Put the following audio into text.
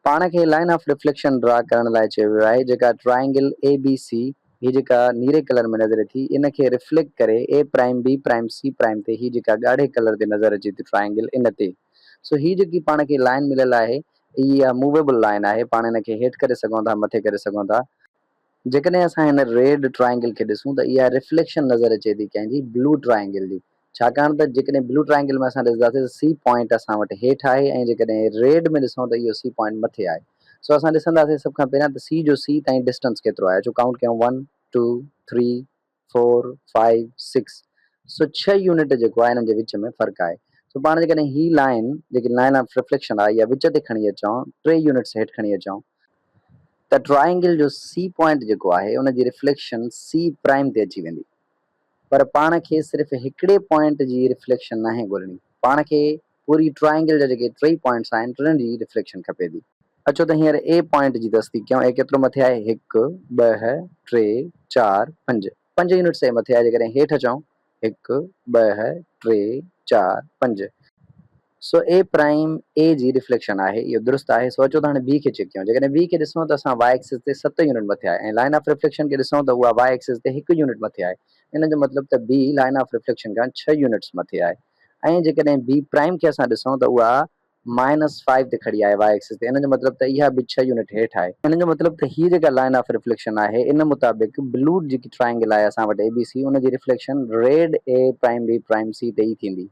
پاڻ کي line of reflection draw ڪرڻ لاء چيو ويو آهي جيڪا ٽرائينگل اي بي سي هي جيڪا نيري ڪلر ۾ نظر اٿي ان کي ريفليڪٽ ڪري A prime B prime C prime تي هي جيڪا ڳاڙهي ڪلر تي نظر اچي ٿي ٽرائينگل ان تي سو هي جيڪي پاڻ کي لائن مليل آهي اهي اها موويبل لائن آهي پاڻ ان کي هيٺ ڪري سگهون ٿا مٿي ڪري سگهون ٿا جيڪڏهن اسان هن ريڊ ٽرائينگل کي ڏسون ته اها ريفليڪشن نظر اچي ٿي ڪنهن جي بلو ٽرائينگل جي ڇاڪاڻ ته جيڪڏهن بلو ٽرائينگل ۾ اسان ڏسنداسين ته سي پوائنٽ اسان وٽ هيٺ آهي ۽ جيڪڏهن ريڊ ۾ ڏسون ته اهو سي پوائنٽ مٿي آهي سو اسان ڏسنداسين سڀ کان پهريان ته سي جو سي تائين ڊسٽنس ڪيترو آهي اچو ڪائونٽ ڪيون one two three four five six so ڇهه يونٽ جيڪو آهي انهن جي وچ ۾ فرق آهي سو پاڻ جيڪڏهن هي لائين جيڪي لائين آف رفليڪشن آهي اها وچ تي کڻي اچون ٽي يونٽس هيٺ کڻي اچون ته ٽرائينگل جو سي پوائنٽ جيڪو آهي ان جي رفليڪشن سي پرائم تي اچي ويندي پر پاڻ کي صرف هڪڙي پوائنٽ جي ريفليڪشن ناهي ڳولڻي، پاڻ کي پوري ٽرائينگل جا جيڪي ٽيئي پوائنٽس آهن ٽنهن جي ريفليڪشن کپي ٿي. اچو ته هينئر اي پوائنٽ جي تصديق ڪيون، اي ڪيترو مٿي آهي، هڪ، ٻه، ٽي، چار، پنج، پنج يونٽس اي مٿي آهي، جيڪڏهن هيٺ اچون، هڪ، ٻه، ٽي، چار، پنج، سو اي پرائيم اي جي ريفليڪشن آهي اهو درست آهي سو اچو ته هاڻي بي کي چيڪ ڪيون جيڪڏهن بي کي ڏسون ته اسان واء ايڪسس تي ست يونٽ مٿي آهي ۽ لائن آف ريفليڪشن کي ڏسون ته اها واء ايڪسس تي هڪ يونٽ مٿي آهي ان جو مطلب ته بي لائن آف ريفليڪشن کان ڇهه يونٽس مٿي آهي ۽ جيڪڏهن بي پرائيم کي اسان ڏسون ته اها مائنس فائيو تي کڙي آهي واء ايڪسس تي ان جو مطلب ته اها به ڇهه يونٽ هيٺ آهي ان جو مطلب ته هي جيڪا لائن آف ريفليڪشن آهي ان مطابق بلوڊ جيڪي ٽرائينگل آهي اسان وٽ اي بي سي ان جي reflection red A prime B prime C تي ئي ٿيندي.